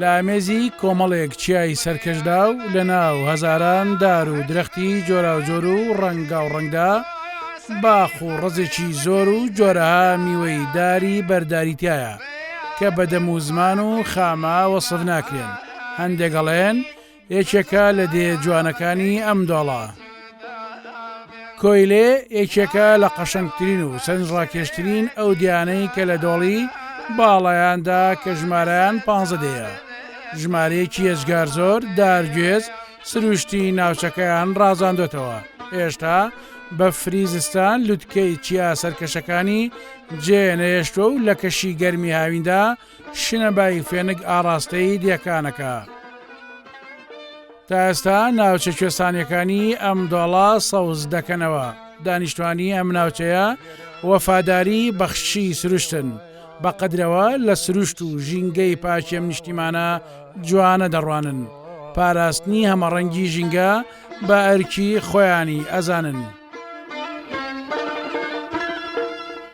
لە ئامێزی کۆمەڵێک چیای سەرکەشدا و لە ناو هەزاران دار و درەختی جۆراوجۆر و ڕەنگاو ڕەنگدا، باخ و ڕەزێکی زۆر و جۆرەها میوەی داری بەرداری تیایە، کە بە دەم و زمان و خامە وەسف ناکرێن، هەندێک ئەڵێن، یەکێکە لە دێ جوانەکانی ئەم دۆڵە. کۆیلێ یەکێکە لە قەشەنگترین و سەرنج ڕاکێشترین ئەو دیانەی کە لە دۆڵی باڵایاندا کە ژمارەیان پانزە دێیە ژمارەیەکی یەجگار زۆر دارگوێز سروشتی ناوچەکەیان ڕازاندۆتەوە هێشتا بە فریزستان لوتکەی چیا سەرکەشەکانی جێ نەهێشتوە و لە کەشی گەرمی هاویندا شنە بای فێنک ئاڕاستەی دیەکانەکە. تا ئێستا ناوچە کوێستانیەکانی ئەم دۆڵە سەوز دەکەنەوە دانیشتوانی ئەم ناوچەیە وەفاداری بەخشی سروشتن بە قەدرەوە لە سروشت و ژینگەی پاکێم نیشتیمانە جوانە دەڕوانن پاراستنی هەمەڕەنگی ژینگە بە ئەرکی خۆیانی ئەزانن.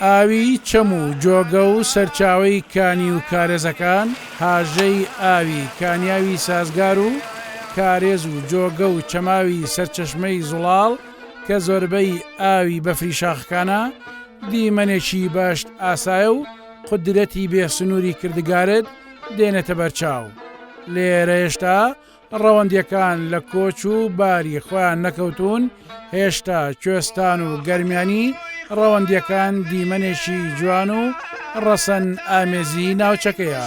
ئاوی چەم و جۆگە و سەرچاوەی کانی و کارێزەکان، هاژەی ئاوی کانیاوی سازگار و کارێز و جۆگە و چەماوی سەرچەشمەی زوڵاڵ کە زۆربەی ئاوی بەفری شاخەکانە، دیمەنێکی باشت ئاسایە و قودرەتی بێ سنووری کردگارت دێنێتە بەرچاو. لێرە هێشتا ڕەوەندیەکان لە کۆچ و باری خۆیان نەکەوتوون، هێشتا کوێستان و گەرمیانی ڕەوەندیەکان دیمەنێکی جوان و ڕەسەن ئامێزی ناوچەکەیە.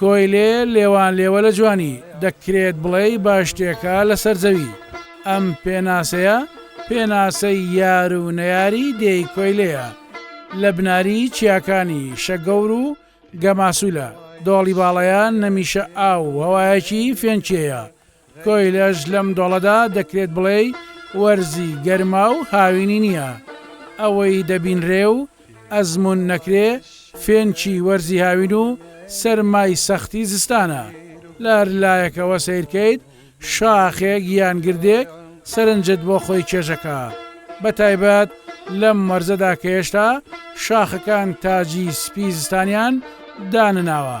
کۆیلێ لێوان لێوە لە جوانی، دەکرێت بڵێی باشتێکە لەسەر زەوی. ئەم پێناسەیە پێناسەی یار و نەیاری دێی کۆیلەیە، لە بناری چیاکانی شەگەور و گەماسولە، دۆڵی باڵەیە نەمیشە ئاو و هەوایەکی فێنکیەیە، کۆیلەش لەم دۆڵەدا دەکرێت بڵێی وەرزی گەرما و هاوینی نییە. ئەوەی دەبینرێ و ئەزموون نەکرێ، فێنکی وەرزی هاوین و سەرمای سەختی زستانە. لە هەر لایەکەوە سەیر کەیت، شاخێک یان گردێک سەرنجت بۆ خۆی چێژەکا. بە تایبەت لەم وەرزەدا کە هێشتا شاخەکان تاجی سپی زستانیان دانەناوە.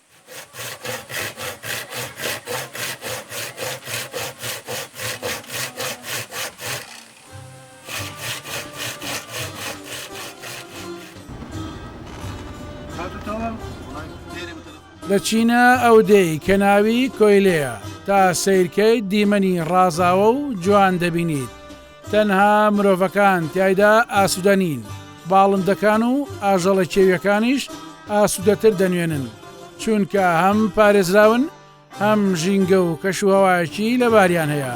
لە چینە ئەو دێی کە ناوی کۆیلەیە تا سیرکەی دیمەنی ڕازاوە و جوان دەبینیت تەنها مرۆڤەکان تیایدا ئاسودە نین، باڵندەکان و ئاژەڵە کێویەکانیش ئاسودەتر دەنوێنن، چونکە هەم پارێزراون هەم ژینگە و کەشوهەوایەکی لەباریان هەیە.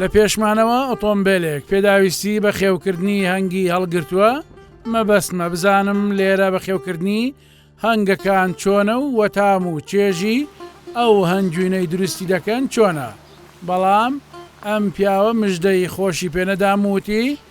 لە پێشمانەوە ئۆتۆمبێلێک پێداویستی بە خێوکردنی هەنگی هەڵگرتووە مەبەستمە بزانم لێرە بە خێوکردنی هەنگەکان چۆنە و وەتام و چێژی ئەو هەنگوینەی دروستی دەکەن چۆنە بەڵام ئەم پیاوە مژدەی خۆشی پێنەدام وتی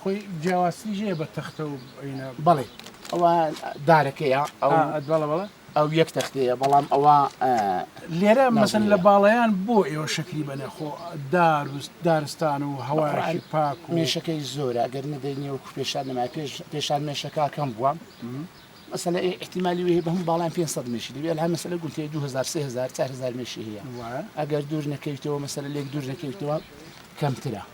خۆی جیاوازتریش هەیە بە تەختە و ئەوینە بەڵێ ئەوە دارەکەیە ئەو آه، بەڵە بەڵە ئەو یەک تەختەیە بەڵام ئەوە آه، لێرە مەسن نازنین لە نییە. باڵیان بۆ ئێوە شەکری بەنێ خۆ دار و دارستان و هەواشی پاک و مێشەکەی زۆرە گەر نەدەی نێو پێشان نما پێش پێشان مێشەکەکەم بووە مەسەلە ئێ احتیممالی وێ بە هەم باڵیان 500 مێشی دەبێت هەر مەسەلە گوتێ 2000 3000 4000 مێشی هەیە وایە؟ ئەگەر دوور نەکەویتەوە مەسەلە لێک دوور نەکەویتەوە کەمترە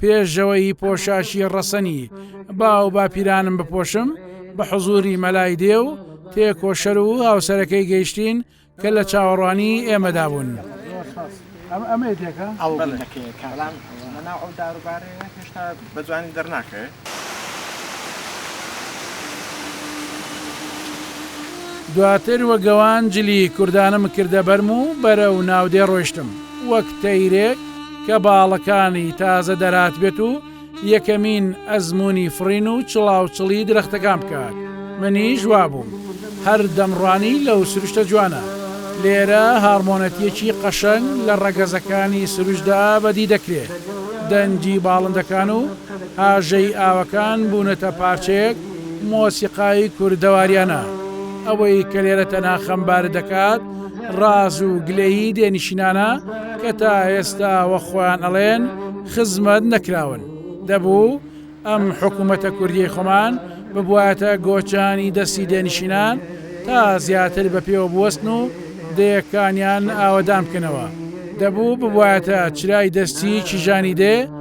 پێشەوەی پۆشاشی ڕەسەنی باو باپیرانم بپۆشم بە حزوری مەلای دێ و تێکۆشەر و هاوسەرەکەی گەیشتین کە لە چاوەڕوانی ئێمەدا بوون. ئەمە دێکە ئەو دەکەێت کاران لەناو ئەو داروبارەیە هێشتا بە جوانی دەرناکەێت. دواتر وە گەوان جلی کوردانم کردە بەرم و بەرە و ناودێ ڕۆشتم وەک تەیرێک کە باڵەکانی تازە دەرهات بێت و یەکەمین ئەزموونی فڕین و چڵاوچڵی درەختەکان بکات منیش وابووم هەر دەمڕوانی لەو سروشتە جوانە لێرە هاڕمۆنەتیەکی قەشەنگ لە ڕەگەزەکانی سروشدا بەدی دەکرێت دەنگی باڵندەکان و ئاژەی ئاوەکان بوونەتە پارچەیەک مۆسیقای کوردەواریانە ئەوەی کە لێرە تەنها خەمبارت دەکات ڕاز و گلەیی دێنشینانە کە تا ئێستا وە خۆیان ئەڵێن خزمەت نەکراون دەبوو ئەم حکوومەتە کوردی خۆمان ببواتە گۆچانی دەستی دێنشینان تا زیاتر بە پێوە بوەستن و دەیەکانیان ئاوەدان بکەنەوە دەبوو ببواتە چرای دەستی کیژانی دێ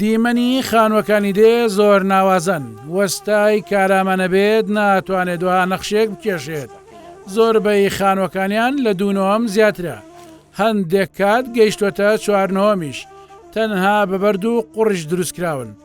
دیمەنی خانوەکانی دێ زۆر ناوازەن وەستای کارامە نەبێت ناتوانێت دوها نەخشێک بکێشێت زۆربەی خانوەکانیان لە دوونۆم زیاترە هەندێک کات گەیشتوەتە چوارنۆمیش تەنها بەبەرد و قڕش دروستکراون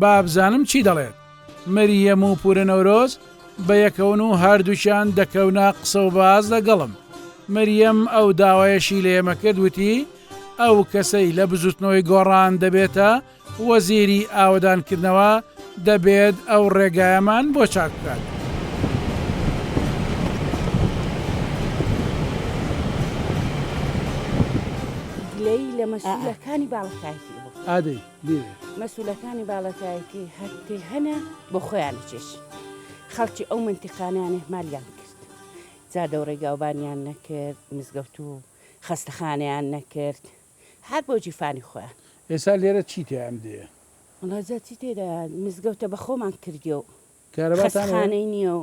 بابزانم چی دەڵێت. مریەم و پورە نەورۆز بەیەکەون و هەردووکیان دەکەونە قسە و باس لەگەڵم. مریەم ئەو داوایەشی لە ئێمە کرد وتی ئەو کەسەی لە بزوتنەوەی گۆڕان دەبێتە وەزیری ئاوەدانکردنەوە دەبێت ئەو ڕێگایەمان بۆ چاک بکات. گلەیی لە مەسولەکانی باڵەکایەتی ئێوە بکەن. ئادەی. لێیە. مەسولەکانی باڵەکایەتی هەر پێ هەنە بۆ خۆیان ئەچێش خەڵکی ئەو مەنتیقانەیان ئیهمالیان کرد جا دەوڕەی گاوبانیان نەکرد مزگەوت و خەستەخانەیان نەکرد هەر بۆ جیفانی خۆیان. ئێسا لێرە چی تیایە ئەم دێیە؟ وەڵا جا چی تێدایە مزگەوتە بە خۆمان کردیە و کارەباتان هەیە؟ خەستخانەی نیە و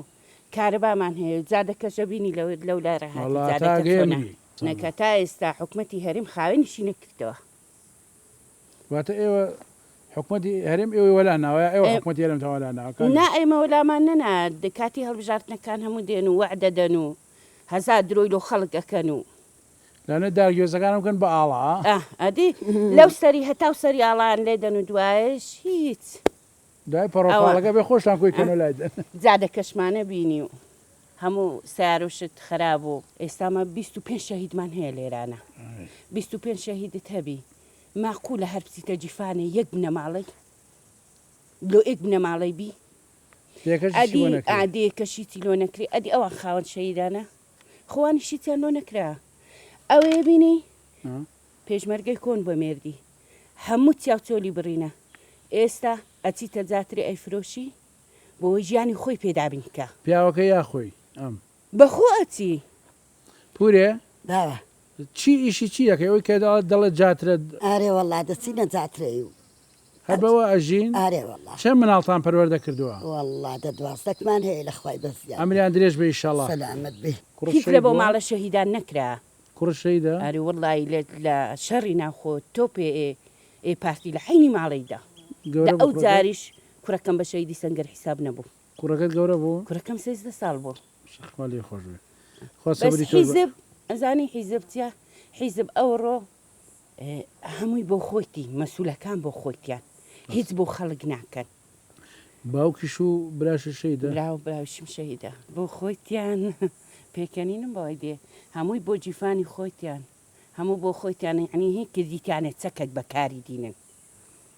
کارەبامان هەیە و جادە کەشە بینی لەو لەو لارە هاتی وەڵا تا جادەکە ئەگەی چۆنە؟ ئەمری. نەکا تا ئێستا حکومەتی هەرێم خاوێنیشی نەکردەوە. واتە ئێوە حکومەتی هەرێم ئێوەی وەلا ناوە یا ئێوە ئێ حکومەتی هەرێمتان وەلا ناوە کاک نا جوو؟ ئێمە وەلامان نەنایە دە کاتی هەڵبژاردنەکان هەموو دێن و وەعد دەدەن و هەزار درۆی لۆ خەڵک ئەکەن و لەوانەیە دار گوێزەکانم بکەن بە ئاڵا ها. ئاه ئەدی لەو سەری هەتاو سەری ئاڵایان لێ دەن و دوایەش هیچ دوای ئەوە پەڕۆپاڵەکە بێ خۆشتان کۆی کەن ئاه و لای دەن. جادەکەشمانە بینی و. هەموو سەیارو شت خەراب بوو. ئێستا مە بیست و پێنج شەهیدمان هەیە لێرانە بیست و پێنج شەهیدت هەبی ماقولە هەر بچیتە جیفانێ یەک بنەماڵەی لۆ ئێک بنەماڵەی بی ئەدی ئادێکە شیتی لۆ نەکری ئەدی ئەوان خاوەن شەهیدانە خوانی شیتیان لۆ نەکرا ئەوێ بینی پێشمەرگەی کۆن بە مێردی هەموو چاوچۆلی بڕینە ئێستا ئەچیتە جاتری ئەیفرۆشی بۆوەی ژیانی خۆی پێ دابین کا. پیاوەکە یا خۆی ئەم. بە خۆ ئەچی. پورێ. باوە. چی ئیشی چی دەکەی ئەوی کە دەڵێت جاترە. ئارێ وەڵا دەچینە جاترەی و. هەر بەوە ئەژین. ئارێ وەڵا. چەند مناڵتان پەروەردە کردوە. وەڵا دە دوازدەکمان هەیە لە خوای بە زیاد. ئەمریان درێژ بێ ئیشەڵا. سەلامەت بی. هیچ لە بۆ ماڵە شەهیدان نەکرا. کوڕ شەیدا. ئاری وەڵای لە لە شەڕی ناوخۆ تۆپێ ئێ ئێ پارتی لە حەینی ماڵەی دا. دە ئەو جاریش کوڕەکەم بە شەهیدی سەنگەر حیساب نەبوو. کوڕەکەت گەورە بوو؟ کوڕەکەم سێزدە ساڵ بوو. ماشاء خوا لێی خۆش بێ خوا بەس سەبری تۆش بە. حیزب ئەزانی حیزب چیە حیزب ئەوڕۆ هەمووی بۆ خۆیتی مەسولەکان بۆ خۆیتیان بەس. هیچ بۆ خەڵک ناکەن. باوکیش و براشت شەهیدە؟ برا و براویشم شەهیدە بۆ خۆیتیان پێکەنینم بەوای دێ هەمووی بۆ جیفانی خۆیتیان هەموو بۆ خۆیتیان یەعنی هی کردیتیانە چەکەک بە کاری دینن.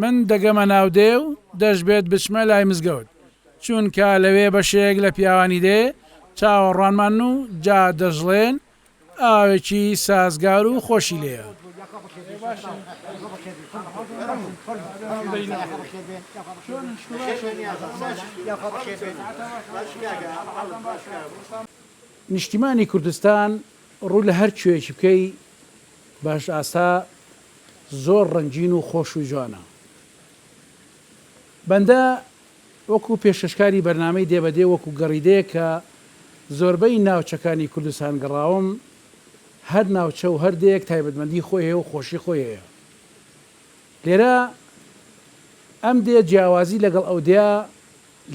من دەگەمە ناو دێ و دەشبێت بچمە لای مزگەوت، چونکە لەوێ بەشێک لە پیاوانی دێ چاوەڕوانمانن و جا دەشڵێن ئاوێکی سازگار و خۆشی لێیە. نیشتیمانی کوردستان ڕوو لە هەر کوێیەکی بکەی باش ئاسا زۆر ڕەنگین و خۆش و جوانە. بەندە وەکو پێشکەشکاری بەرنامەی دێ بە دێ وەکو گەڕیدەیەک کە زۆربەی ناوچەکانی کوردستان گەڕاوم، هەر ناوچە و هەر دێیەک تایبەتمەندی خۆی هەیە و خۆشی خۆی هەیە. لێرە ئەم دێ جیاوازی لەگەڵ ئەو دێا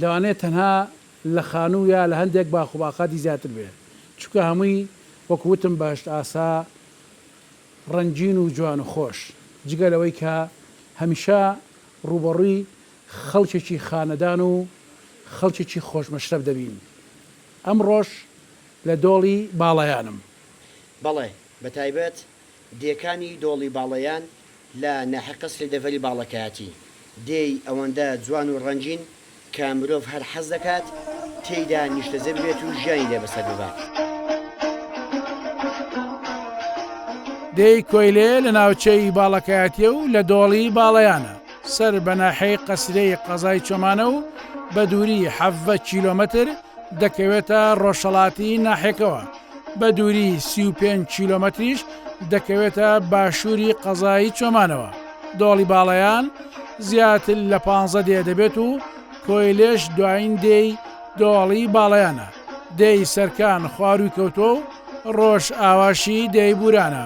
لەوانەیە تەنها لە خانوو یا لە هەندێک باخ و باقاتی زیاتر بێ چونکە هەمووی وەکو وتم بەهەشت ئاسا ڕەنگین و جوان و خۆش جگە لەوەی کە هەمیشە ڕووبەڕووی خەڵکێکی خانەدان و خەڵکێکی خۆش مەشرەف دەبین ئەمڕۆش لە دۆڵی باڵایانم. بەڵێ بەتایبەت دێکانی دۆڵی باڵەیان لە ناحیە قەسری دەڤەری باڵەکایەتی، دێی ئەوەندە جوان و ڕەنگین کە مرۆڤ هەر حەز دەکات تێیدا نیشتەجێ ببێت و ژیانی لێ بەسەر ببات. دێی کۆیلێ لە ناوچەی باڵەکایەتییە و لە دۆڵی باڵەیانە، سەر بە ناحیەی قەسرێی قەزای چۆمانە و بە دووری حەڤدە کیلۆمەتر دەکەوێتە ڕۆژهەڵاتی ناحیەکەوە. بە دووری سی و پێنج کیلۆمەتریش دەکەوێتە باشووری قەزای چۆمانەوە، دۆڵی باڵەیان زیاتر لە پانزە دێ دەبێت و کۆیلێش دوایین دێی دۆڵی باڵەیانە، دێی سەرکان خوارووی کەوتووە و ڕۆژئاواشی دێی بوورانە.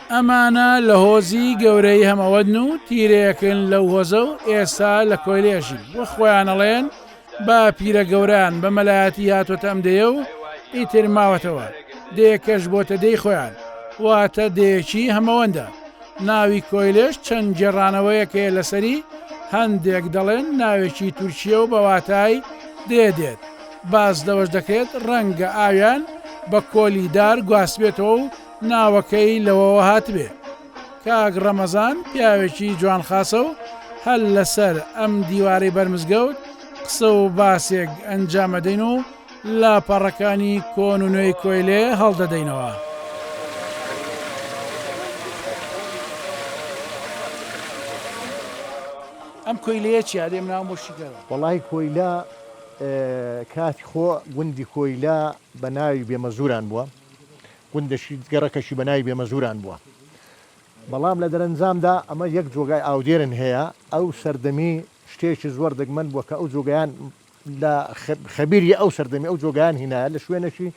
ئەمانە لە هۆزی گەورەی هەمەوەدن و تیرەیەکن لەو هۆزە و ئێستا لە کۆیلەیەژین وە خۆیان ئەڵێن بە پیرە گەوران بە مەلایەتی هاتۆتە ئەم دێیە و ئیتر ماوەتەوە دێیەکەش بۆتە دێی خۆیان واتە دێیەکی هەمەوەندە ناوی کۆیلەش چەند گێڕانەوەیەک هەیە لەسەری هەندێک دەڵێن ناوێکی تورکیە و بە واتای دێ دێت باس لەوەش دەکرێت ڕەنگە ئاویان بە کۆلی دار گواستبێتەوە و ناوەکەی لەوەوە هاتبێ. کاک ڕەمەزان پیاوێکی جوان خاسە و هەر لەسەر ئەم دیوارەی بەر مزگەوت قسە و باسێک ئەنجام ئەدەین و لاپەڕەکانی کۆن و نوێی کۆیلێ هەڵدەدەینەوە. ئەم کۆیلەیە چیە دێم ناو بۆ شیکەرە؟ وەڵاهی کۆیلە کاتی خۆ گوندی کۆیلە بە ناوی بێمەزوران بووە. گوندەشی گەڕەکەشی بە ناوی بێمەزوران بووە، بەڵام لە دەرەنجامدا ئەمە یەک جۆگای ئاودێرن هەیە، ئەو سەردەمی شتێکی زۆر دەگمەن بووە کە ئەو جۆگەیان لە خەبیری ئەو سەردەمی ئەو جۆگەیان هینایە لە شوێنەکی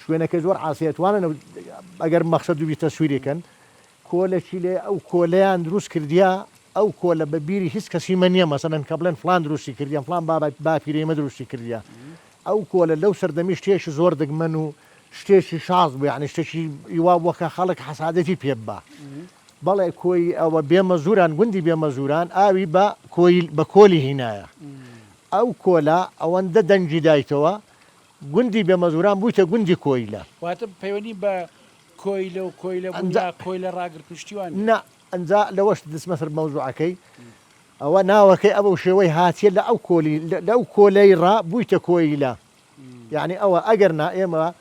شوێنەکەی زۆر عاسیە توانن ئەگەر مەخسەد دوبی تەسویری کەن کۆلەکی لێ ئەو کۆلەیان دروست کردیا ئەو کۆلە بە بیری هیچ کەسی مە نیە مەسەلەن کە بڵێن فلان دروستی کردیان فلان بابای باپیرەی مە دروستی کردیا ئەو کۆلە لەو سەردەمی شتێکی زۆر دەگمەن و شتێکی شاز بوو یانی شتێکی وا بووە کە خەڵک حەسادەتی پێ ببا بەڵێ کۆی ئەوە بێمەزوران گوندی بێمەزوران ئاوی بە کۆیل بە کۆلی هینایە ئەو کۆلە ئەوەندە دەنگی دایتەوە گوندی بێمەزوران بوویتە گوندی کۆیلە. واتە پەیوەندی بە کۆیلە و کۆیلە بوون یا کۆیلە ڕاگرتن و شتی وا نییە؟ نا ئەنجا لەوەش دچمە سەر مەوزوعەکەی ئەوە ناوەکەی ئەبەو شێوەی هاتیە لە ئەو کۆلی لە ئەو کۆلەی ڕا بوویتە کۆیلە یەعنی ئەوە ئەگەر نا ئێمە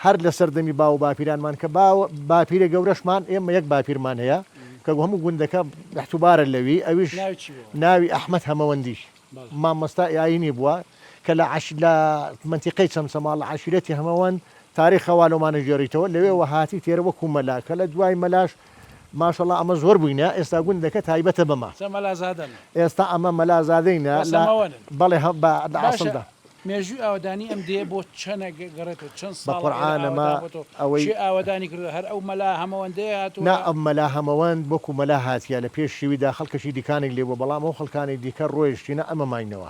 هەر لە سەردەمی باو و باپیرانمان کە باوە باپیرە گەورەشمان ئێمە یەک باپیرمان هەیە کە گوو هەموو گوندەکە احتوبارە لەوی ئەویش ناوی چی بووە؟ ناوی ئەحمەد هەمەوەندی بەڵێ مامۆستا ئایینی بووە کە لە عەش لە مەنتیقەی چەمچەماڵ عەشیرەتی هەمەوەند تاریخە وا لۆمانە گێڕیتەوە لەوێوە هاتی تێرە وەکوو مەلا کە لە دوای مەلاش ماشەڵا ئەمە زۆر بوینە ئێستا گوندەکە تایبەتە بەمە. چە مەلازادەن. ئێستا ئەمە مەلازادەینە لە بەسەمەوەنن. بەڵێ هە بە لە باشە ئاسڵدا. مێژووی ئاوەدانی ئەم دێیە بۆ چەنە گە گەڕێتەوە چەن بە ساڵە ئێرە قورعان ئەمە ئاوەدان بۆتەوە ئەوەی کێ ئاوەدانی کردوە هەر ئەو مەلا هەمەوەندەیە نا هاتوە. ئەم مەلا هەمەوەند وەکو مەلا هاتیە لە پێش شیویدا خەڵکەکی دیکانەی لێبوە بەڵام ئەو خەڵکانەی دیکە ڕۆیشتینە ئەمە ماینەوە.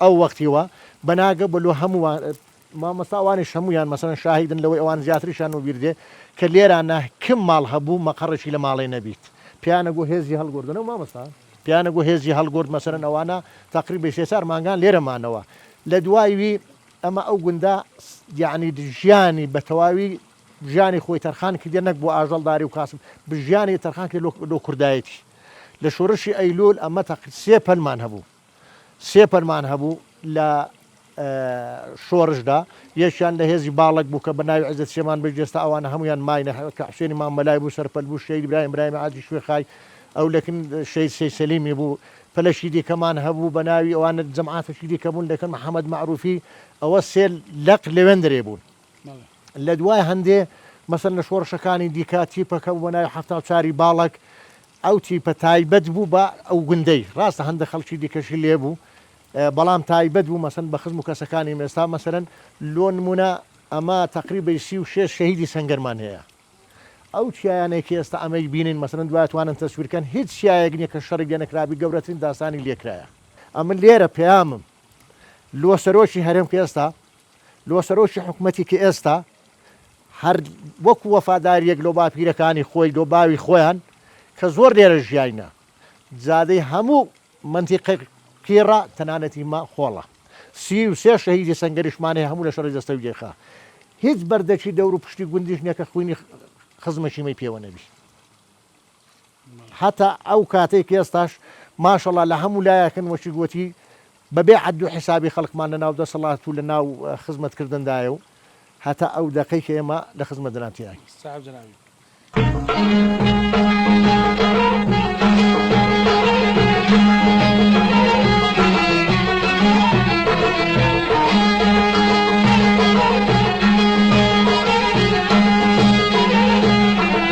ئەو وەختی وا بە ناگە بۆ لۆ هەمووان مامۆستا ئەوانیش هەموویان مەسەن شاهیدن لەوەی ئەوان زیاتریشان و بیردێ کە لێرا نە کم ماڵ هەبوو مەقەڕێکی لە ماڵێ نەبیت پیانە گۆ هێزی هەڵگوردنە و مامۆستا پیانە گۆ هێزی هەڵگورد مەسەن ئەوانە تەقریبی سێ چار مانگان لێرە مانەوە لە دوای وی ئەمە ئەو گوندە یعنی ژیانی بە تەواوی ژیانی خۆی تەرخان کردە نەک بۆ ئاژەڵداری و کاسب بژیانی تەرخان کرد لۆ کوردایەتی لە شۆرشی ئەیلول ئەمە تەقری سێ پەلمان هەبوو سێ فەرمان هەبوو لە شۆرشدا یەکیان لە هێزی باڵەک بوو کە بە ناوی عزت سێمان بەش جێستا ئەوانە هەمویان ماینە کە حسێنی مام مەلای بوو سەرپەل بوو شەید برایم برایم عادی شوێخای ئەو لەکن شەید سەی سەلیمی بوو پلەشی دیکەمان هەبوو بە ناوی ئەوانە جەماعاتەکی دیکە بوون لەکن محەممەد معروفی ئەوە سێ لەق لەوێن درێ بوون لە دوای هەندێ مەسەن لە شۆڕشەکانی دیکە تیپەکە بۆ ناوی هەفتا چاری باڵک ئەو تیپە تایبەت بوو بە ئەو گوندەی، ڕاستە هەندێک خەڵکی دیکەشی لێ بوو، بەڵام تایبەت بوو مەسەن بە خزم و کەسەکانی مێستا مەسەن لۆ نموونە ئەمە تەقریبەی سی و شێش شەهیدی سەنگەرمان هەیە ئەو چیایانەی کە ئێستا ئەمەی بینین مەسەن دوا توانن تەسویر کەن هیچ چیایەک نیە کە شەڕی لێ نەکرابی گەورەترین داستانی لێ کرایە ئەمن لێرە پەیامم لۆ سەرۆکی هەرێم کە ئێستا لۆ سەرۆکی حکومەتی کە ئێستا هەر وەکو وەفاداریەک لۆ باپیرەکانی خۆی لۆ باوی خۆیان کە زۆر لێرە ژیاینە جادەی هەموو منتیقە قیڕە تەنانەتی مە خۆڵە سی و سێ شەهیدی سەنگەریشمان هەیە هەموو لە شەڕی دەستەوی دێخا هیچ بەردەکی دەور و پشتی گوندیش نیە کە خوینی خزمەشیمەی پێوە نەبی هەتا ئەو کاتەی کە ئێستاش ماشەڵا لە هەموو لایەکن وەکیک وتی بەبێ عەد و حیسابی خەڵکمان لە ناو دەسەڵات و لە ناو خزمەتکردندایە و هەتا ئەو دەقەی کە ئێمە لە خزمەت دەران تیاین.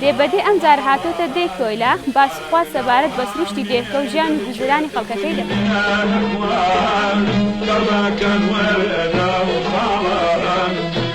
دێ بە دێ ئەم جار هاتۆتە دێی کۆیلە، باسی خوات سەبارەت بە سروشتی دێهکە و ژیان و گوزەرانی خەڵکەکەی دەکات.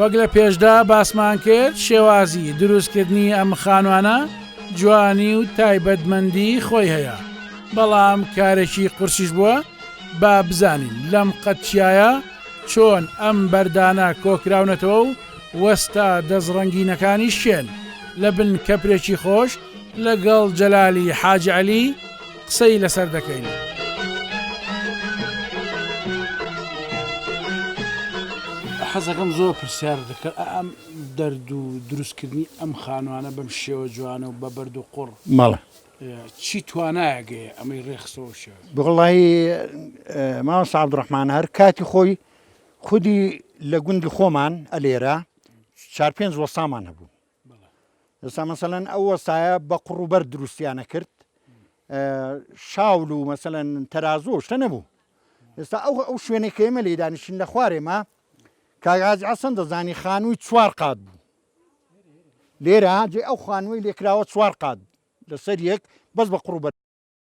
وەک لە پێشدا باسمان کرد شێوازی دروستکردنی ئەم خانوانە جوانی و تایبەتمەندی خۆی هەیە بەڵام کارێکی قورسیش بووە با بزانین لەم قەتچایە چۆن ئەم بەردانە کۆکراونەتەوە و وەستا دەستڕەنگینەکانی شێن لە بن کەپرێکی خۆش لەگەڵ جەلالی حاجعلی قسەی لەسەر دەکەین. حەزەکەم زۆر پرسیار دەکەن ئەم دەرد و دروستکردنی ئەم خانوانە بەم شێوە جوانە و بە بەرد و قڕ مەڵە چی توانایەگەی ئەمەی ڕێخسەوە شێ بڵی ماوە سعبد ڕحمان هەر کاتی خۆی خودی لە گوندی خۆمان ئەلێرە چار پێنج وەستامان هەبوو ئێستا مەسەلەن ئەو وەستایە بە قوڕ و بەرد دروستیان ئەکرد، شاول و مەسەلەن تەرازوو و شتە نەبوو، ئێستا ئەو ئەو شوێنەی کە ئێمە لێی دانیشتین لە خوارێ ما کاک حاجی حەسەن دەزانی خانووی چوار قات بوو، لێرە جێ ئەو خانووەی لێ کراوە چوار قات لەسەر یەک بەس بە قوڕ و بەرد.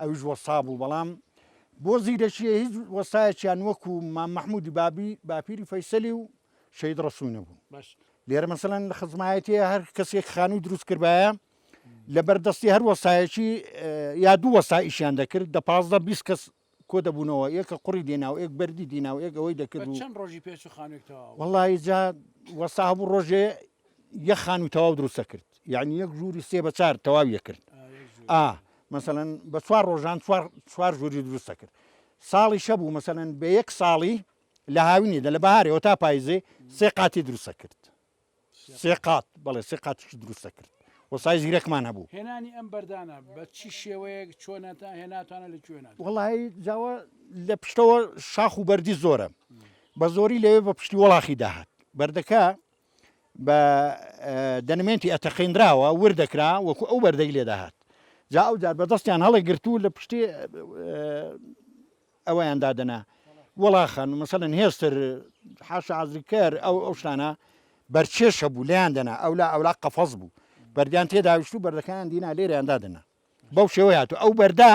ئەویش وەستا بوو بەڵام بۆ زیرەکیە هیچ وەستایەکیان وەکو مام مەحمودی بابی باپیری فەیسەلی و شەید ڕسووی نەبوون باش لێرە مەسەن لە خزمایەتی هەر کەسێک خانووی دروست کردایە لە بەردەستی هەر وەستایەکی یا دوو وەستایشیان دەکرد دە پازدە بیست کەس کۆ دەبوونەوە ئێ کە قوڕی دێناو ئێک بەردی دیناو ئێک ئەوەی دەکرد و چەند ڕۆژی پێچ و خانوێک تەواو وەڵی جا وەستا هەبوو ڕۆژێ یە خان و تەواو دروستە کرد یعنی یەک ژووری سێ بە چار تەواویە کرد ئا مەسەەن بە چوار ڕۆژان چوار ژووری دروستە کرد ساڵی شەبوو مەسەەن بە یەک ساڵی لە هاوینێدا لە بەهارەوە تا پایزێ سێ قاتی دروستە کرد سێ قات بەڵێ سێ قاتیش دروست دەکرد و سای زیرەکمان هەبوو هێنانی ئەم بەردانە بە چی شێوەیەک چۆنەتا هێناتانە لە کوێنا وڵی جاوە لە پشتەوە شاخ و بەردی زۆرە بە زۆری لەوێ بە پشتی وڵاخی داهات بەردەکە بە دەنمێنتی ئەتەقینراوە ور دەکرا وەکو ئەو بەردەی لێداهات جا ئەو جار بەدەستیان هەڵێ گرتوو لە پشتی ئەوەیان دادەنا وەڵاخە مەسەلەن هێستر حاشا عەزری کەر ئەو ئەو شتانە بەرچێش هەبوو لێیان دەنا ئەو لا ئەولا قەفەز بوو بەردیان تێداویشت و بەردەکەیان دینا لێریان دادەنا بەو شێوەی هاتوو ئەو بەردا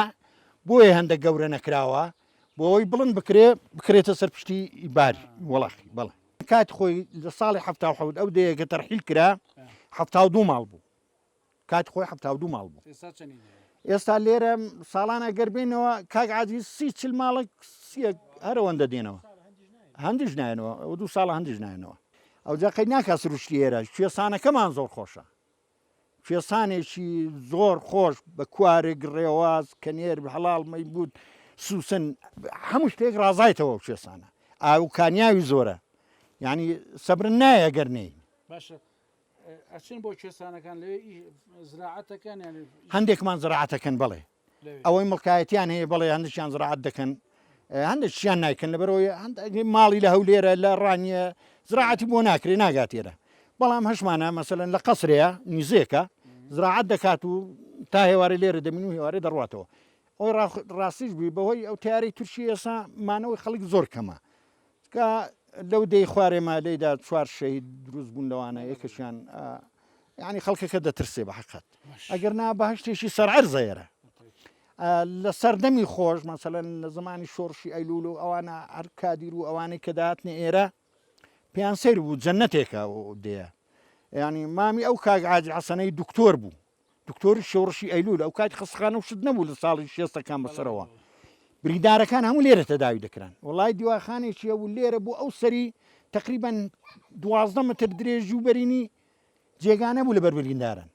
بۆیە هەندە گەورە نەکراوە بۆ ئەوەی بڵند بکرێ بکرێتە سەر پشتی بار وەڵاخی بەڵێ کات خۆی لە ساڵی هەفتا و حەوت ئەو دەیەکە تەرحیل کرا هەفتا و دوو ماڵ بوو کاتی خۆی حەفتا و دوو ماڵ بوو ئێستا چەنی هەیە؟ ئێستا لێرە ساڵان ئەگەر بێنەوە کاک عزیز سی چل ماڵێک سیەک هەرەوەندە دێنەوە هەندیش نایەنەوە ئەو دوو ساڵە هەندیش نایەنەوە ئەو جاقی ناکا سروشتی ئێرە کوێستانەکەمان زۆر خۆشە کوێستانێکی زۆر خۆش بە کوارێک ڕێواز کە نێر هەڵاڵ مەیبوت سوسن هەموو شتێک ڕازایتەوە کوێستانە ئاوکانیاوی زۆرە یعنی سەبرن نایە گەرنین باشە هەندێکمان زراعەت دەکەن بەڵێ ئەوەی مڵکایەتیان هەیە بەڵێ هەندێکیان زراعەت دەکەن هەندێکیان نایکەن لەبەرەوەی ماڵی لە هەولێرە لە ڕانیە زراعەتی بۆ ناکرێ ناگاتێرە بەڵام هەشمانە مەسەن لە قەسرەیە نیزێکە زراعەت دەکات و تا هێوارە لێرە دەمین و هێوارە دەڕاتەوە ئەوی ڕاستیش بووی بەهۆی ئەو تیارەی تورکی ئێسا مانەوەی خەڵک زۆر کەمە کە لەو دێی خوارێ مالێیدا چوار شەهید دروست بوون لەوانە یەکەشیان یعنی خەڵکەکە دەترسێ بە حقت ئەگەر نا بەهشتێکی سەرعەر زەێرە لە سەردەمی خۆش مەسەلەن لە زمانی شۆڕشی ئەیلول و ئەوانە هەر کادیر و ئەوانەی کە داهاتنە ئێرە پێیان سەیر بوو جەنەتێکە و دێ ینی مامی ئەو کاگ عاجی حەسەنەی دکتۆر بوو دکتۆری شۆڕشی ئەیلول ئەو کات خەستخانە و شت نەبوو لە ساڵی شێستەکان بەسەرەوە بریندارەکان هەموو لێرە تەداوی دەکران وڵای دیواخانێکی هەبوو لێرە بوو ئەو سەری تقریبان دوازدە متر درێژی و بەرینی جێگانە بوو لە بەربریندارن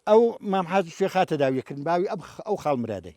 ئەو مامحازی شوێخا تەداویەکردن باوی ئەو خاڵمرادەی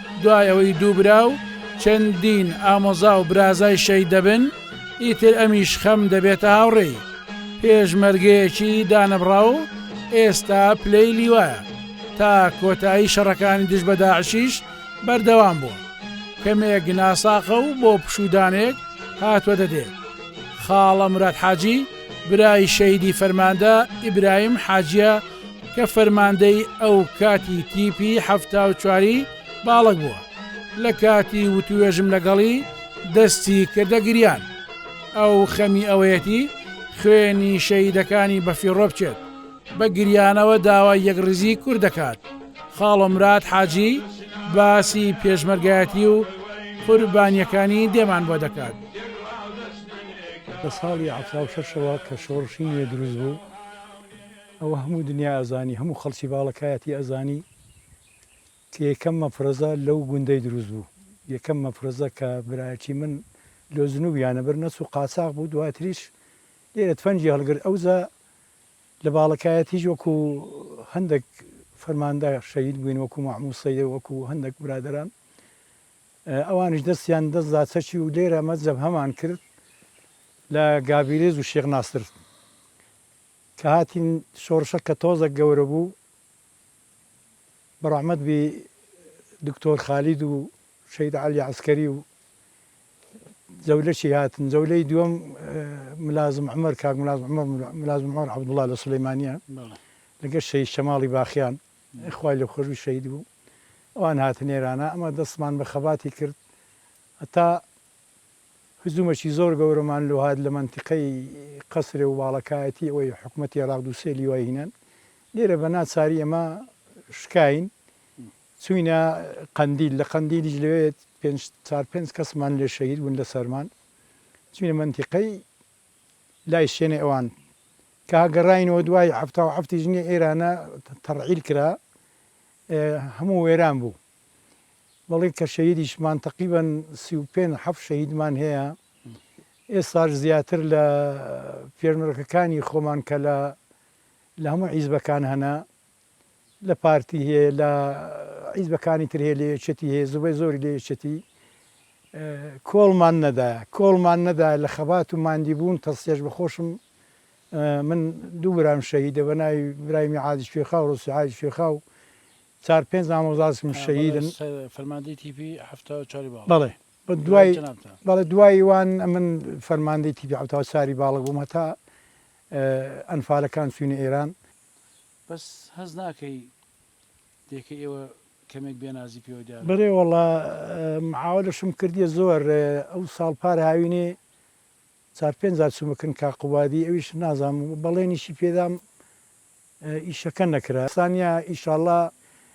دوای ئەوەی دوو برا و چەندین ئامۆزا و برازای شەید دەبن، ئیتر ئەمیش خەم دەبێتە هاوڕێی پێشمەرگەیەکی دانەبڕاو و ئێستا پلەی لیوایە. تا کۆتایی شەڕەکانی دژ بە داعشیش بەردەوام بووە. کەمێک ناساقە و بۆ پشوودانێک هاتووەتە دێ. خاڵە مراد حاجی، برای شەهیدی فەرماندە ئیبراهیم حاجیە کە فەرماندەی ئەو کاتی تیپی حەفتا و چواری باڵەک بووە لە کاتی وتوێژم لەگەڵی دەستی کردە گریان ئەو خەمی ئەوەیەتی خوێنی شەهیدەکانی بەفیڕۆ بچێت بە گریانەوە داوای یەکڕیزی کورد دەکات خاڵۆمرات حاجی باسی پێشمەرگایەتی و قوربانیەکانی دێمان بۆ دەکات. لە ساڵی حەفتا و شەش ەوە کە شۆڕشی نوێ دروست بوو ئەوە هەموو دنیا ئەزانی هەموو خەڵکی باڵەکایەتی ئەزانی کە یەکەم مەفرەزە لەو گوندەی دروست بوو یەکەم مەفرەزە کە برایەکی من لۆ جنوبیانە بەر نەچوو قاچاغ بوو دواتریش لێرە تفەنگی هەڵگرت ئەوجا لە باڵەکایەتیش وەکو هەندێک فەرماندە شەهید بووین وەکو مەحموود سەید وەکو هەندێک برادەران ئەوانیش دەستیان دەست دا چەکی و لێرە ئەمە جەبهەمان کرد لە گابیرێز و شێخ ناسر کە هاتین شۆڕشە کە تۆزەک گەورە بوو بەڕەحمەت بی دکتۆر خالید و شەید علی عسکەری و جەولەکی هاتن جەولەی دووەم ملازم عمر کاک ملازم عمر ملازم عمر عبدالله لە سلەیمانیە لەگە شەید شەماڵی باخیان خوای لێ خۆشبی شەهید بوو ئەوان هاتن ئێرانە ئەمە دەستمان بە خەباتی کرد هەتا هجومەکی زۆر گەورەمان لۆ هات لە مەنتیقەی قەسرێ و باڵەکایەتی ئەوەی حکومەتی ئێراق دوو سێ لیوای هینان لێرە بە ناچاری ئێمە شکاین چوینە قەندیل لە قەندیلیش لەوێ پێنج چار پێنج کەسمان لێ شەهید بوون لە سەرمان چوینە مەنتیقەی لای شێنێ ئەوان کە گەڕاینەوە دوای حەفتاو حەفتی ژنی ئێرانە تەڕعیل کرا هەموو وێران بوو بەڵی کە شەهیدیشمان تەقیبەن سی و پێنج حەفت شەهیدمان هەیە ئێساش زیاتر لە پێشمەرەکەکانی خۆمان کە لە لە هەموو عیزبەکان هەنە لە پارتی هەیە لە حیزبەکانی تر هەیە لە یەکێتی هەیە زوبەی زۆری لە یەکێتی کۆڵمان نەدایە کۆڵمان نەدایە لە خەبات و ماندی بوون تەسلێش بە خۆشم من دوو برام شەهیدە بە ناوی برای میعادی شوێخا و ڕۆسیعای شوێخا و چار پێنج مامۆزاسم شەهیدن فەرماندەی تیپی هەفتا و چاری باڵ بەڵێ بە دوای بەڵێ دوای وان من فەرماندەی تیپی حەفتا و چاری باڵک بووم هەتا ئەنفالەکان چوینە ئێران بەس هەست ناکەی دێکەی ئێوە کەمێک بێ نازی پێوە دیارە. بەێ وەڵا معاولەشم کردیە زۆر ئەو ساڵ پار هاوینێ چار پێنج جار چومە کن کاک قوبادی ئەویش نازام بەڵێنیشی پێدام ئیشەکە نەکرا سانیا ئیشاڵا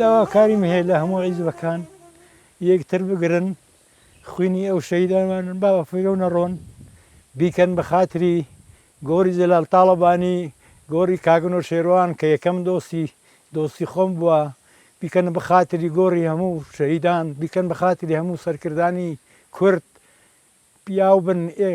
داواکاریم هەیە لە هەموو عیزبەکان یەکتر بگرن خوینی ئەو شەهیدانمانن با بەفیرە و نەڕۆن بیکەن بەخاتری گۆری جەلال تاڵەبانی گۆری کاک نەوشێروان کە یەکەم دۆستی دۆستی خۆم بوە بیکەن بەخاتری گۆری هەموو شەهیدان بیکەن بەخاتری هەموو سەرکردانی کورد پیاو بن ئێ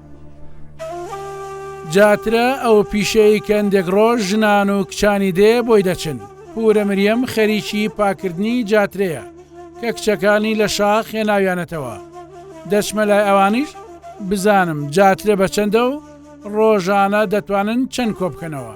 جاترە ئەو پیشەی کە هەندێک ڕۆژ ژنان و کچانی دێ بۆی دەچن. پورە مریەم خەریکی پاکردنی جاترەیە کە کچەکانی لە شاخ هێناویانەتەوە. دەچمە لای ئەوانیش بزانم جاترە بە چەندە و ڕۆژانە دەتوانن چەند کۆ بکەنەوە.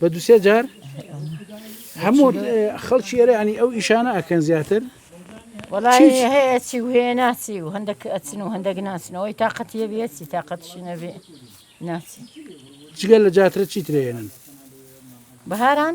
بە دو سێ جار هەموو خەڵکی ئێرە ینی ئەو ئیشانە ئەکەن زیاتر ناچی و هەندێک ئەچن و هەندێک ناچنەوەی تااقەتە بێتی تااقەتشی نەبێ ناچی جگە لە جاترە چی ترێنن بەهاران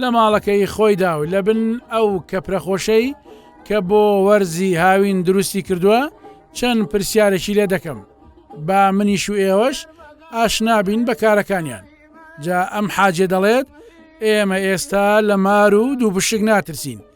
لە ماڵەکەی خۆیدا و لە بن ئەو کەپرە خۆشەی کە بۆ وەرزی هاوین دروستی کردووە چەند پرسیارێکی لێ دەکەم با منیش و ئێوەش ئاشنابین بە کارەکانیان جا ئەم حاجێ دەڵێت ئێمە ئێستا لە مار و دوو بشک ناترسین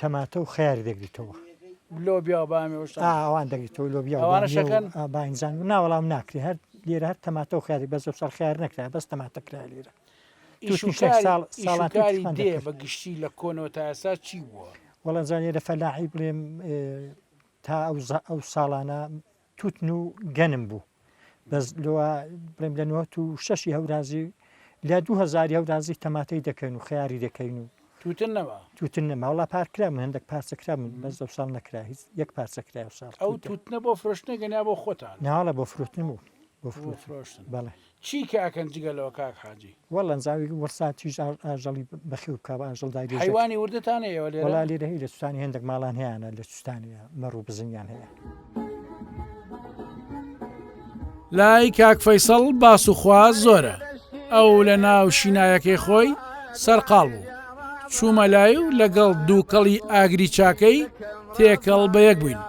تەماتە و خەیار دەگریتەوە. لۆبیا و بامی و شتان. ئا ئەوان دەگریتەوە لۆبیا و بامی و. ئەوانەش ئەکەن؟ ئا باینجان نا وەڵام ناکرێ هەر لێرە هەر تەماتە و خەیاری بەس ئەمساڵ خەیار نەکرایە بەس تەماتە کرایە لێرە. ئیش و تووشنی شەک کاری ساڵ ئیش و ساڵات و کاری تشتان دێ دەکرد. بە گشتی لە کۆنەوە تا ئێستا چی بووە؟ وەڵا جا لێرە فەلاحی بڵێم ئێ تا ئەو زە ئەو ساڵانە توتن و گەنم بوو بەس لەوە بڵێم لە نوت و شەشی هەورازی لە دو هزاری هەورازی تەماتەی دەکەین و خیاری دەکەین و توتن نەما توتن نەماوەڵا پارکرا من هەندێک پارچەکرا من بەس دە ساڵ نەکرا هیچ یەک پارچەکرا و ساڵ ئەو توتنە بۆ فرۆشتنە گەنیا بۆ خۆتان ناڵە بۆ فرۆتن بوو بۆ فرۆشتن بەڵێ چی کە ئەکەن جگە لەوە کاک حاجی. وەللە زاویک وەرسا تیژ ئاژەڵی بەخێو بکە بە ئاژەڵ دای بێژێت. حەیوانی وردتان هەیە ئێوە لێرە؟ وەڵا لێرە هەی لە سوتانی هێندێک ماڵان هەیانە لە سوتانی مەڕ و بزنیان هەیە. لای کاک فەیسەڵ باس و خوا زۆرە ئەو لە ناو شینایەکەی خۆی سەرقاڵ بوو چوومە لای و لەگەڵ دووکەڵی ئاگری چاکەی تێکەڵ بە یەک بووین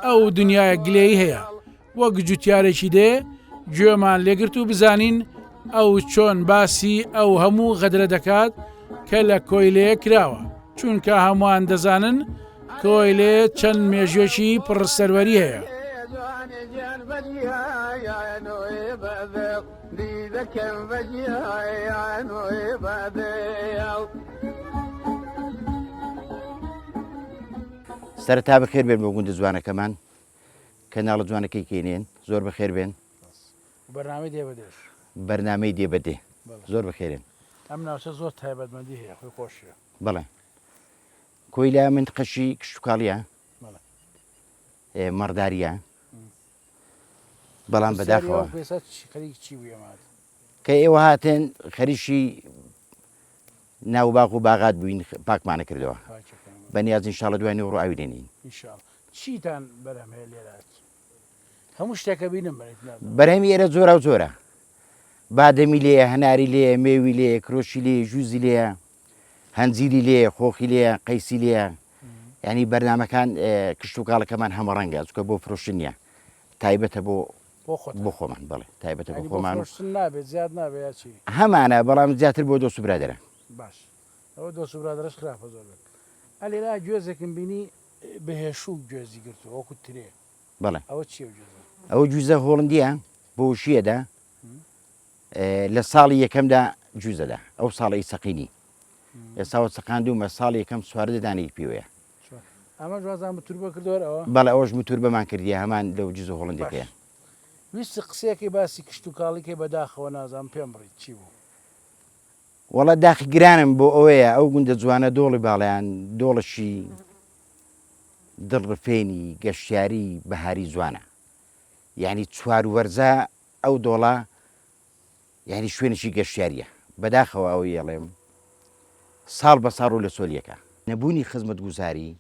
ئەو دنیای گلەی هەیە وەک جوتیارێکی دێ گوێمان لێگرت و بزانین ئەو چۆن باسی ئەو هەموو غەدرە دەکات کە لە کۆیلەیە کراوە چونکە هەمووان دەزانن کۆیلێ چەند مێژێکی پڕسەروەری هەیە دیدەکەم بەجیان بەدێ سەرتا بەخێر بێن بۆ گوندە جوانەکەمان کەناڵە جوانەکەی کینین زۆر بەخێر بێن. بەرنامەی دێ بە دێش. بەرنامەی دێ بە دێ. زۆر بەخێرێن. ئەم ناوچە زۆر تایبەتمەندی هەیە خۆی خۆشیە. بەڵێ. کۆیلا منتقەشی کشتتوکاڵیە. مەڕداریە. بەڵام بەداخەوە. خەریکی چی بوو ئێمە؟ کە ئێوە هاتن خەریکی ناو باغ و باغات بووین پاکمانە کردەوە بەنیاز انشاءاللە دوای نوێ ڕوو ئاوی دێنین چیتان بەرهەم هەیە لێرات هەموو شتێکە بینم بەرهەمی ئێرە زۆرا و زۆرە بادەمی لێ هەناری لێ مێوی لێ کرۆشی لێ ژوزی لێ هەنجیری لێ خۆخی لێ قەیسی لێ ینی بەرنمەکان کشت و کاڵەکەمان هەمە ڕەنگە چکە بۆ فرۆشن نیە تایبەتە بۆ بۆ خۆمان بەڵێ تایبەتە بۆ خۆمان هەمانە بەڵام زیاتر بۆ دۆست و برادەران باش ئەوە دۆست و برادرش خراپە زۆر بێت ئەلێرا گوێزێکم بینی بەهێشوو گوێزی گرتو وەکو ترێ بەڵێ ئەوە چی ئەوە جوزە هۆڵندیە بۆشیەدا لە ساڵی یەکەمدا جوزەدا ئەو ساڵی سەقینی ئێساوە سەقاندومە ساڵی یەکەم سوار دەدانێک پێوەیە ئەمەش وازان بە توربە کردوەر ئەوە؟ بەڵێ ئەوەش متوربەمان کردیە هەمان لەو جزو هۆڵندەکەیە. باش ویستی قسەیەکەی باسی کشتوکاڵی کەی بەداخەوە نازانم پێم بڕیت چی بوو. وەڵا داخی گرانم بۆ ئەوەیە ئەو گوندە جوانە دۆڵی باڵەیان دۆڵەشی دڵ ڕفێنی گەشتیاری بەهاری جوانە یانی چوار وەرزە ئەو دۆڵە. یانی شوێنێکی گەشتیاریە. بەداخەوە ئەوەی ئەڵێم ساڵ بە ساڵ ڕوو لە چۆلی ئەکا. نەبوونی خزمەتگوزاری،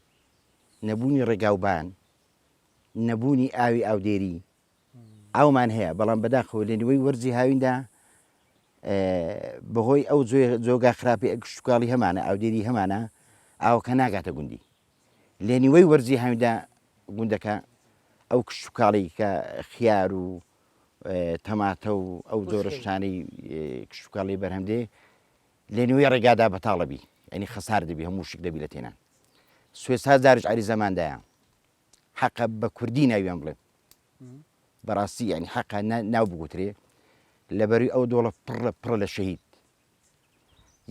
نەبوونی ڕێگاوبان، نەبوونی ئاوی ئاودێری، ئاومان هەیە بەڵام بەداخەوە لە نیوەی وەرزی هاویندا بەهۆی ئەو جۆگا خراپی ئەگشتوکاڵی هەمانە ئاودێری هەمانە ئاوەکە ناگاتە گوندی لە نیوەی وەرزی هاویندا گوندەکە ئەو کشتتوکاڵی کە خیار و تەماتە و ئەو جۆرە شتانەی کشتوکاڵی بەرهەم دێ لە نوێی ڕێگادا بەتاڵەبی ئەنی خەسار دەبی هەموو شک دەبی لە تێنان سوێ ساز دارش عری زەماندایە حەقە بە کوردی ناویان بڵێ بەڕاستی ینی حەقە ناو بگوترێ لەبەری ئەو دۆڵە پڕ لە پڕ لە شەهید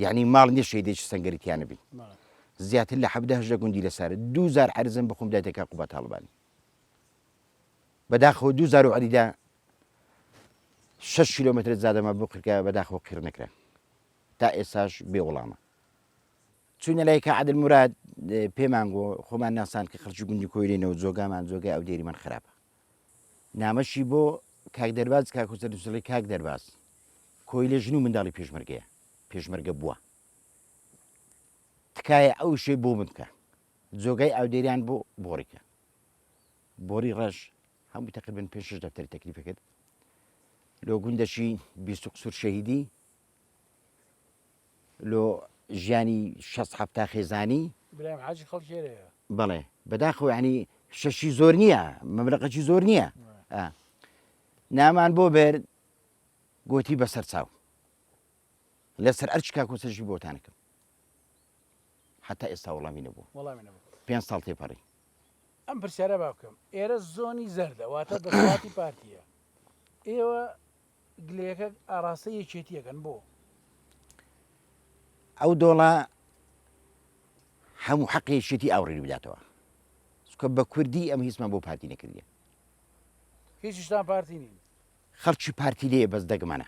یعنی ماڵ نیە شەیدێک سنگریتیانە بی زیاتر لە حەبدەهش لە گوندی لەسەر دووزار حرزم بخۆم دایتەکە قوبە تاڵبانی بەداخەوە دوو زارو عەلیدا شەش کیلۆمەترە جادەمان بۆ قرکە بەداخەوە قیڕ نەکرا تا ئێساش بێ وڵامە چوینە لای کە عادل مراد پێمان گۆ خۆمان ناسان کە خەرچی گوندی کۆیرێنەوە جۆگامان جۆگای ئەو دێری من خراپە نامەشی بۆ کاک دەرباز کاکوسەر دوسڵی کاک دەرباز کۆی لە ژن و منداڵی پێشمەرگەیە پێشمەرگە بووە تکایە ئەو شێ بۆ من بکە جۆگای ئاودێریان بۆ بۆڕیکە بۆری ڕەش هەموو تەقریبەن پێنج شەش دەفتەری تەکلیفی کرد لۆ گوندەشی بیست و قسوور شەهیدی لۆ ژیانی شەست حەفتا خێزانی برایم حاجی خەڵکێرەیە بەڵێ بەداخەوە ینی شەشی زۆر نییە مەمرەقەکی زۆر نییە آه. نامان بۆ بەر گۆتی بەسەر چاو لە سەر ئەرکی کاک موسە ژیر بۆتان نەکەم حتا ئێستا وەڵامی نەبووم وەڵامی نەبوو پێنج ساڵ تێپەڕی ئەم پرسیارە با بکەم ئێرە زۆنی زەردە واتە دەسەڵاتی پارتیە ئێوە گلەکە ئاراستە یەکێتیەکەن بۆ ئەو دۆڵە هەموو حەقی یەکێتی ئاوڕێنی بداتەوە سکە بە کوردی ئەم هیچمان بۆ پارتی نەکردیە هیچشتان پارتی نین خەڵکی پارتی لێ بەس دەگمانە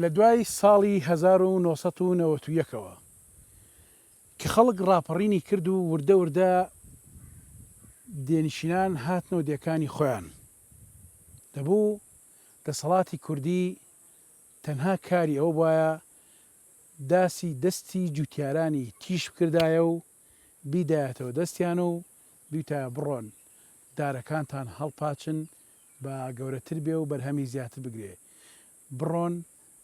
لە دوای ساڵی هەزار و نۆ سەد و نەوەت و یەک ەوە کە خەڵک ڕاپەڕینی کرد و وردە وردە دێنشینان هاتنەوە دێکانی خۆیان دەبوو دەسەڵاتی کوردی تەنها کاری ئەوە بایە داسی دەستی جوتیارانی تیژ بکردایە و بیدایەتەوە دەستیان و بیوتایە بڕۆن دارەکانتان هەڵپاچن با گەورەتر بێ و بەرهەمی زیاتر بگرێ، بڕۆن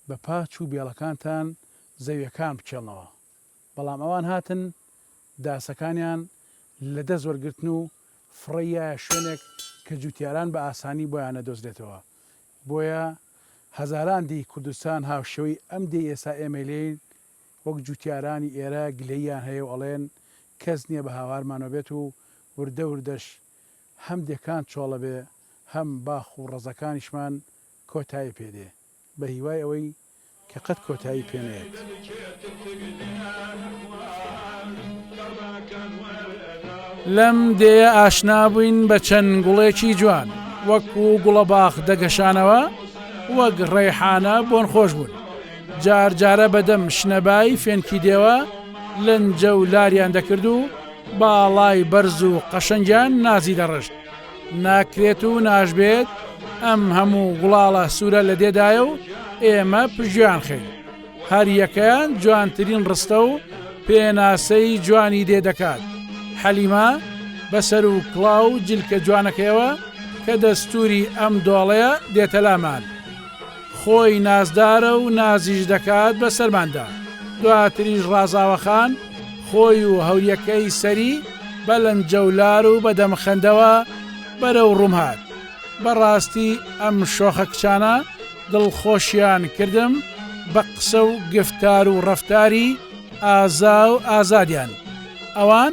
بە پاچ و بێڵەکانتان زەویەکان بچێڵنەوە، بەڵام ئەوان هاتن داسەکانیان لە دەست وەرگرتن و فڕێیایە شوێنێک کە جوتیاران بە ئاسانی بۆیان نەدۆزرێتەوە، بۆیە هەزاران دێی کوردستان هاوشێوەی ئەم دێی ئێستا ئێمەی لێین وەک جووتیارانی ئێرە گلەییان هەیە و ئەڵێن، کەس نییە بە هاوارمانەوە بێت و وردە وردەش هەم دێکان چۆڵە بێ، هەم باخ و ڕەزەکانیشمان کۆتایی پێ دێ، بە هیوای ئەوەی کە قەت کۆتایی پێ نەیەت. لەم دێیە ئاشنا بووین بە چەند گوڵێکی جوان، وەکوو گوڵەباخ دەگەشانەوە، وەک ڕەیحانە بۆنخۆش بوون. جار جارە بە دەم شنەبای فێنکی دێوە لەنجە و لاریان دەکرد و باڵای بەرز و قەشەنگیان نازی دەڕشت. ناکرێت و ناشبێت ئەم هەموو گوڵاڵە سوورە لە دێدایە و ئێمە پژیان خەین. هەریەکەیان جوانترین ڕستە و پێناسەی جوانی دێ دەکات. حەلیما بەسەر و کڵاو جلکە جوانەکەیەوە کە دەستوری ئەم دۆڵەیە دێتەلامان. خۆی نازدارە و نازیش دەکات بە سەرماندا. دواتریش ڕازاوە خان خۆی و هەوریەکەی سەری بە لەنجەولار و بە دەمخەندەوە بەرەو ڕووم هات. بە ڕاستی ئەم شۆخە کچانە دڵخۆشیان کردم بە قسە و گفتار و ڕەفتاری ئازا و ئازادیان. ئەوان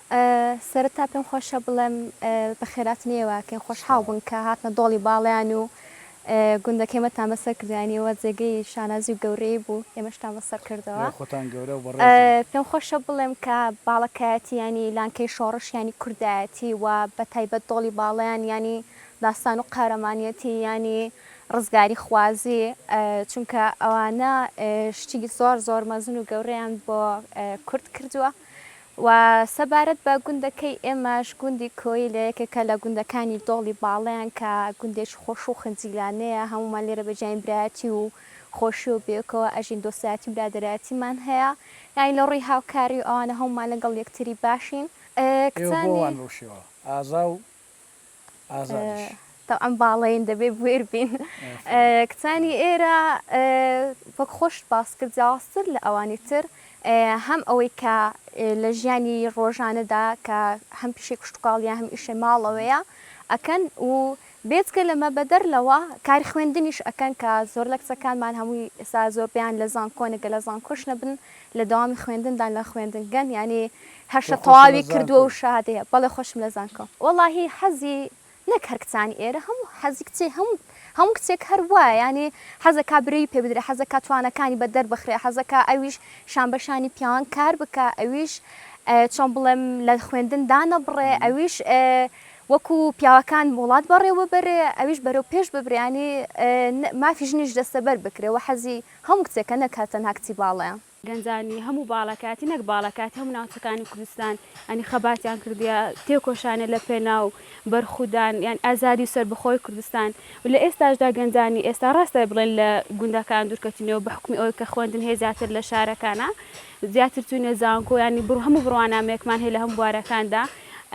سەرەتا پێم خۆشە بڵێم بەخێراتن یەوە کەین خۆشحاڵ بوون کە هاتنە دۆڵی باڵیان و گوندەکەیمەتان بەسەر کردیانیەوە جێگەی شانازی و گەورەی بوو ئێمەشتان بەسەر کردەوە پێم خۆشە بڵێم کە باڵەکایەتی یانی لانکەی شۆڕش یانی کوردایەتی و بەتایبەت دۆڵی باڵیان یانی داستان و قارەمانیەتی یانی ڕزگاری خوازی چونکە ئەوانە شتی زۆر زۆر مەزن و گەورەیان بۆ کورد کردووە و سەبارەت بە گوندەکەی ئێمەش گوندی کۆیلە یەکێکە لە گوندەکانی دۆڵی باڵەیان کە گوندێکی خۆش و خنجیلانەیە هەموومان لێرە بە جیاین برایەتی و خۆشی و بێکەوە ئەژین دۆستایەتی و برادەرایەتیمان هەیە یانی لە ڕووی هاوکاری و ئەوانە هەموومان لەگەڵ یەکتری باشین کچانی. ئێوە بۆ وان بەو شێوە ئازا و ئازادیش. تەبعەن باڵەین دەبێ بوێر بین. کچانی ئێرە وەک خۆشت باس کرد جیاوازتر لە ئەوانی تر هەم ئەوەی کە لە ژیانی ڕۆژانەدا کە هەم پیشەی کشتوکاڵیە هەم ئیشێ ماڵەوەیە ئەکەن و بێجگە لەمە بەدەر لەوە کاری خوێندنیش ئەکەن کە زۆر لە کچەکانمان هەمووی ئێستا زۆربەیان لە زانکۆن گە لە زانکۆش نەبن لە دەوامی خوێندندان لە خوێندنگەن یانی هەر شت تەواوی کردووە و شەهادەی هەیە بەڵێ خۆشم لە زانکۆ. وەڵاهی حەزی نەک هەر کچانی ئێرە هەموو حەزی کچێ هەموو هەموو کچێک هەر وایە یانی حەزەکا برەوی پێ بدرێ حەزەکا توانەکانی بە دەر بخرێ حەزەکا ئەویش شان بە شانی پیاوان کار بکا ئەویش چۆن بڵێم لە خوێندن دانەبڕێ ئەویش وەکو پیاوەکان وڵات بەڕێوە بەرێ ئەویش بەرەو پێش ببرێ یانی مافی ژنیش دەستەبەر بکرێ وە حەزی هەموو کچێکە نەک هەر تەنها کچی باڵەیان. گەنجانی هەموو باڵەکاتی نەک باڵەکاتی هەموو ناوچەکانی کوردستان ینی خەباتیان کردیە تێکۆشانە لە پێناو بەرخودان یان ئازادی و سەربەخۆی کوردستان و لە ئێستاشدا گەنجانی ئێستا ڕاستە بڵێن لە گوندەکان دورکەتونیەوە بە حوکمی ئەوەی کە خوێندن هەیە زیاتر لە شارەکانا زیاتر چونە زانکۆ ینی بڕ هەموو بڕوانامەیەکمان هەیە لە هەموو بوارەکاندا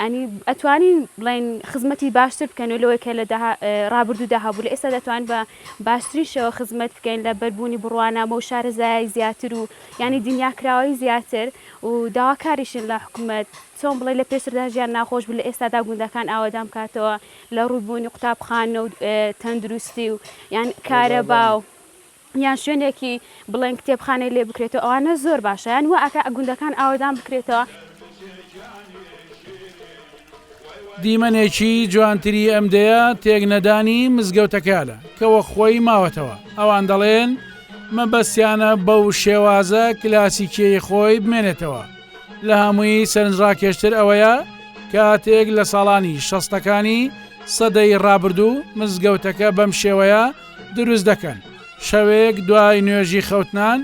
ینی ئەتوانین بڵێن خزمەتی باشتر بکەن لەوەی کە لە داها ڕابردودا هەبوو لە ئێستا دەتوان بە باشترین شێوە خزمەت بکەین لە بەربوونی بڕوانامە و شارەزایای زیاتر و یانی دنیا کراوەی زیاتر و داواکاریشین لە حکومەت چۆن بڵێی لە پێشتردا ژیان ناخۆش بوو لە ئێستادا گوندەکان ئاوەدان بکاتەوە لە ڕووی بوونی قوتابخانە و تەندروستی و یان کارەبا و یان شوێنێکی بڵێن کتێبخانەی لێ بکرێتەوە ئەوانە زۆر باشە یان وا ئەکا گوندەکان ئاوەدان بکرێتەوە. دیمەنێکی جوانتری ئەم دێیە تێک نەدانی مزگەوتەکەیانە کە وەک خۆی ماوەتەوە ئەوان دەڵێن مەبەستیانە بەو شێوازە کلاسیکیەی خۆی بمێنێتەوە لە هەمووی سەرنجڕاکێشتر ئەوەیە کاتێک لە ساڵانی شەستەکانی سەدەی ڕابردوو مزگەوتەکە بەم شێوەیە دروست دەکەن شەوێک دوای نوێژی خەوتنان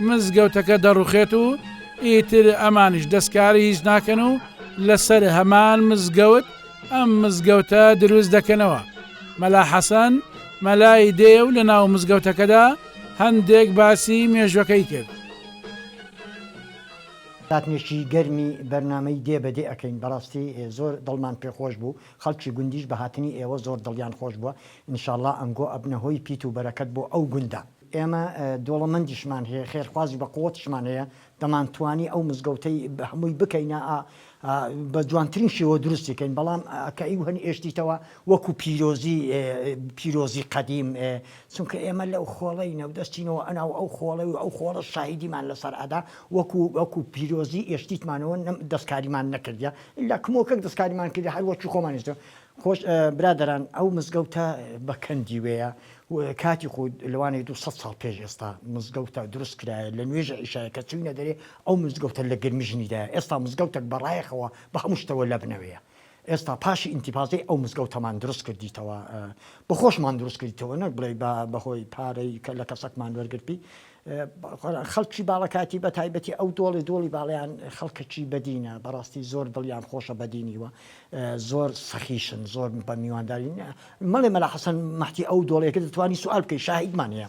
مزگەوتەکە دەڕوخێت و ئیتر ئەمانیش دەستکاری هیچ ناکەن و لەسەر هەمان مزگەوت ئەم مزگەوتە دروست دەکەنەوە. مەلا حەسەن مەلای دێ و لەناو مزگەوتەکەدا هەندێک باسی مێژوەکەی کرد. ساتنێکی گەرمی بەرنامەی دێ بە دێ ئەکەین بەڕاستی زۆر دڵمان پێ خۆش بوو خەڵکی گوندیش بە هاتنی ئێوە زۆر دڵیان خۆش بووە انشاللە ئەنگۆ ئەبنە هۆی پیت و بەرەکەت بۆ ئەو گوندە. ئێمە دۆڵەمەندیشمان هەیە خێرخوازی بە قوتشمان هەیە دەمانتوانی ئەو مزگەوتەی هەمووی بکەینە ئا بە جوانترین شێوە دروستی کەین بەڵام کە ئیو هەن ئێشتیتەوە وەکو پیرۆزی پیرۆزی قەدیم چونکە ئێمە لەو خۆڵەینە و دەچینەوە ئەناو ئەو خۆڵەی و ئەو خۆڵە شاهیدیمان لەسەر ئەدا وەکو وەکو پیرۆزی ئێشتیتمانەوە نەم دەسکاریمان نەکردیە ئیلا کمۆکەک دەسکاریمان کردە هەر وەکی خۆمانیشتە خۆش برادەران ئەو مزگەوتە بە کەندی وێە کاتی خۆ لەوانەیە دوو سەد ساڵ پێش ئێستا مزگەوتە دروست کرایە لە نوێژە ئیشایە کە چووینە دەرێ ئەو مزگەوتە لە گەرمی ژنیدایە ئێستا مزگەوتەک بەڕایەخەوە بە هەموو شتەوە لەبنەوەیە ئێستا پاشی ئینتیفازەی ئەو مزگەوتەمان دروست کردیتەوە بە خۆشمان دروست کردیتەوە نەک بڵێ بە بەهۆی پارەی کە لە کەسەکمان وەرگرتی خەڵکی باڵەکاتی بەتایبەتی ئەو دۆڵی دۆڵی باڵەیان خەڵکەکی بەدینە بەڕاستی زۆر دڵیان خۆشە بەدینی وە زۆر سەخیشن زۆر بە میواندارین مەڵێ مەلا حەسەن مەحتی ئەو دۆڵێکە دەتوانی سوال بکەی شاهیدمان هەیە.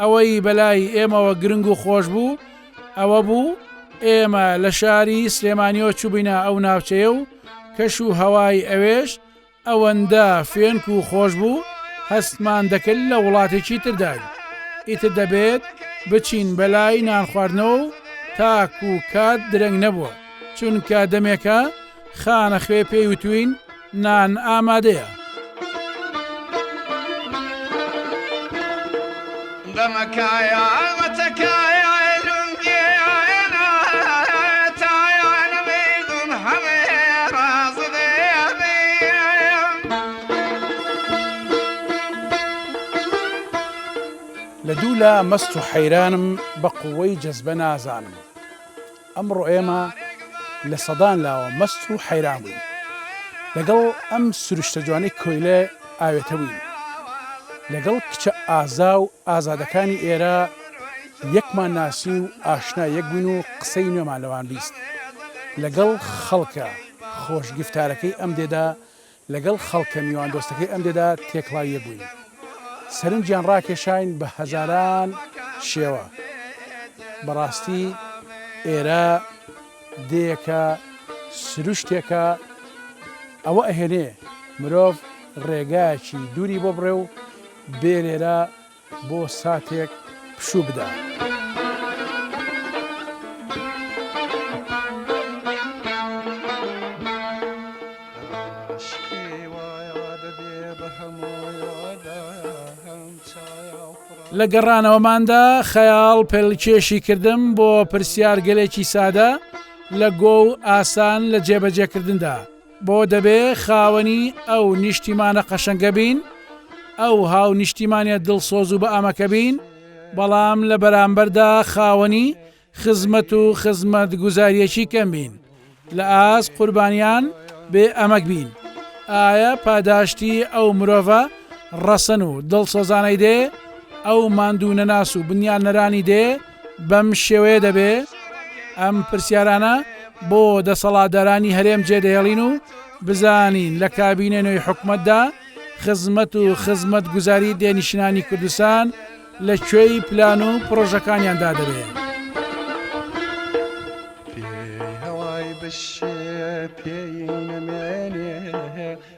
ئەوەی بەلای ئێمەوە گرنگ و خۆش بوو ئەوە بوو ئێمە لە شاری سلێمانیەوە چوبینە ئەو ناوچەیە و کەش و هەوای ئەوێش ئەوەندە فێنک و خۆش بوو هەستمان دەکرد لە وڵاتێکی ترداین ئیتر دەبێت بچین بەلای نان خواردنەوە و تاک و کات درەنگ نەبووە چونکە دەمێکە خانە خوێ پێی وتوین نان ئامادەیە. بەمەکایە ئەمەتەکایە لە دوولا مەست و حەیرانم بە قووەی جەزبە نازانم. ئەمڕۆ ئێمە لە سەدان لاوە مەست و حەیران بووین لەگەڵ ئەم سروشتە جوانەی کۆیلە ئاوێتەبووین، لەگەڵ کچە ئازا و ئازادەکانی ئێرە یەکمان ناسی و ئاشنا یەک بووین و قسەی نوێمان لەوان بیست، لەگەڵ خەڵکە خۆشگیفتارەکەی ئەم دێدا لەگەڵ خەڵکە میواندۆستەکەی ئەم دێدا تێکڵاوی یەک بووین. سەرنجیان ڕاکێشاین بە هەزاران شێوە. بەڕاستی ئێرە دێیەکە، سروشتێکە، ئەوە ئەهێنێ مرۆڤ ڕێگایەکی دووری بۆ بڕێ و بێ لێرە بۆ ساتێک پشوو بدە. لە گەڕانەوەماندا خەیاڵ پێلکێشی کردم بۆ پرسیارگەلێکی سادە لە گۆ و ئاسان لە جێبەجێکردندا بۆ دەبێ خاوەنی ئەو نیشتیمانە قەشەنگە بین، ئەو هاونیشتیمانیە دڵسۆز و بەئەمەکە بین، بەڵام لە بەرامبەردا خاوەنی خزمەت و خزمەتگوزاریەکی کەم بین، لە ئاست قوربانیان بێ ئەمەک بین، ئایە پاداشتی ئەو مرۆڤە ڕەسەن و دڵسۆزانەی دێ، ئەو ماندوونەناس و بنیادنەرانی دێ، بەم شێوەیە دەبێ ئەم پرسیارانە بۆ دەسەڵاتدارانی هەرێم جێدەهێڵین و بزانین لە کابینە نوێی حکومەتدا خزمەت و خزمەت گوزاری دێنیشنانی کوردستان لە کوێی پلان و پرۆژەکانیاندا دەبێت. بشێ پێی نەمێنێ